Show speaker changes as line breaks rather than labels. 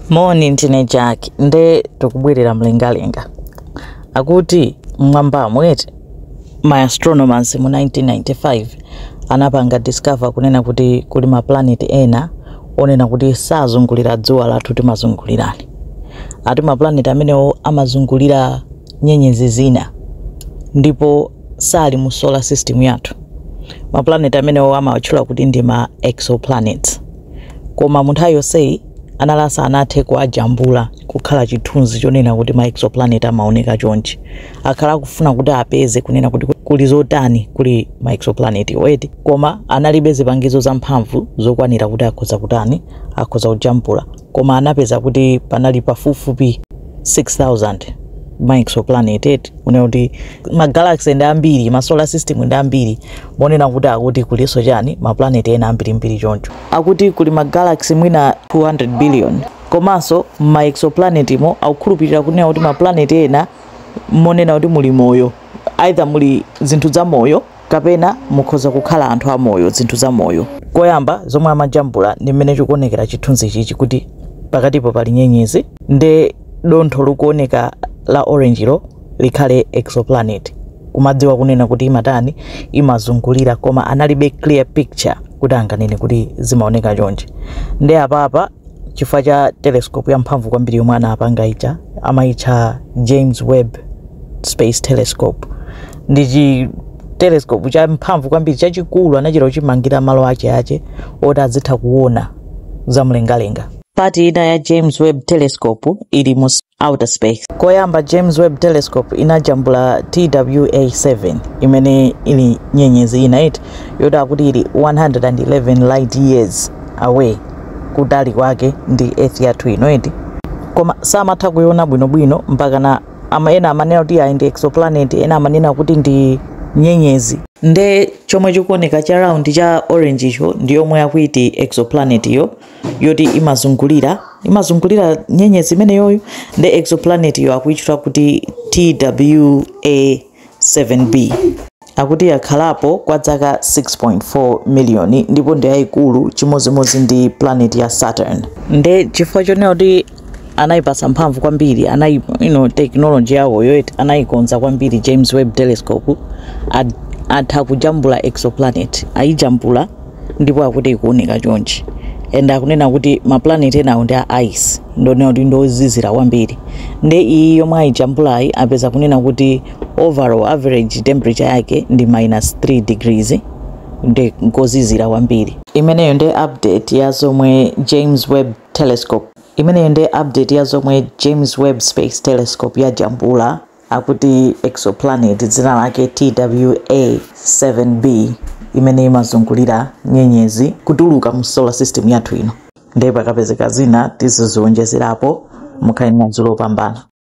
Moni, ndine Jack nde tikubwerera mlengalenga. Akuti mmwambamu ma astronomers mu 1995 anapanga discover kunena kuti kuli ma planet ena onena kuti sazungulira dzuwa lathu timazungulirani. Ati ma planet amenewo amazungulira nyenyezi zina ndipo sali mu solar system yathu. Ma planet amenewo amawatchula kuti ndi ma exoplanets. Koma mu nthawi yonseyi a NASA sanathe kuwajambula kukhala chithunzi chonena kuti ma exoplanet amaoneka chonchi. Akhala akufuna kuti apeze kunena kuti kuli zotani kuli ma exoplanet wo eti koma analibe zipangizo zamphamvu zokwanira kuti akhoza kutani akhoza kujambula koma anapeza kuti panali pafupifupi 6,000 ma exoplanet eti kunena kuti ma galaxy ndi ambiri ma solar system ndi ambiri monena kuti akuti kulinso chani ma planet ena ambirimbiri choncho. akuti kuli ma galaxy mwina 200 billion komanso mma exoplanet mo akukhulupirira kunena kuti ma planet ena monena kuti muli moyo either muli zinthu za moyo kapena mukhoza kukhala anthu amoyo zinthu za moyo koyamba zomwe amajambula ndi mmene chikuonekera chithunzi ichichi kuti pakatipo pali nyenyezi nde dontho likuoneka la orange lo likhale exoplanet kumadziwa kunena kuti imatani imazungulira koma analibe clear picture kuti anganene kuti zimaoneka chonchi ndi apapa chifukwa cha telescope yamphamvu kwambiri yomwe anapanga ija amayitcha james webb space telescope ndi chi telescope cha mphamvu kwambiri chachikulu anachita kuchimangira malo ache ache oti azitha kuona zamlengalenga part ina ya james webb telescope ili mu outer space. Koyamba James Webb Telescope inajambula TWA7 imene ili nyenyezi ina eti yoti akuti ili 111 light years away kutali kwake ndi earth yathu ino eti koma samatha kuiona bwinobwino mpaka na ama ena amanena kuti ayi ndi exoplanet ena amanena kuti ndi nyenyezi nde chomwe chikuoneka cha round cha orange icho ndi yomwe akuti exoplanet yo yoti imazungulira imazungulira nyenyezi imeneyoyo ndi exoplanet yo akuitchula kuti TWA7b akuti yakhalapo kwa dzaka 6.4 miliyoni ndipo ndi yayikulu chimodzimodzi ndi planet ya Saturn nde chifukwa chonena kuti anaipasa mphamvu kwambiri anai you know, technology yawoyo eti anaikonza kwambiri james webb telescope atha kujambula exoplanet ayijambula ndipo akuti ikuoneka chonchi and akunena kuti maplanet enawo ndi a ice ndonena kuti ndiozizira kwambiri nde iyi yomwe ayijambulayi apeza kunena kuti overall average temperature yake ndi minus 3 degrees ndi kozizira kwambiri imeneyo ndi update ya zomwe james webb Telescope. Imeneyo nde update ya zomwe James Webb Space Telescope yajambula akuti exoplanet dzina lake TWA7b imene imazungulira nyenyezi kutuluka mu solar system yathu ino. Nde pakapezeka zina tiziziwonjezerapo mukhale ndi madzulo opambana.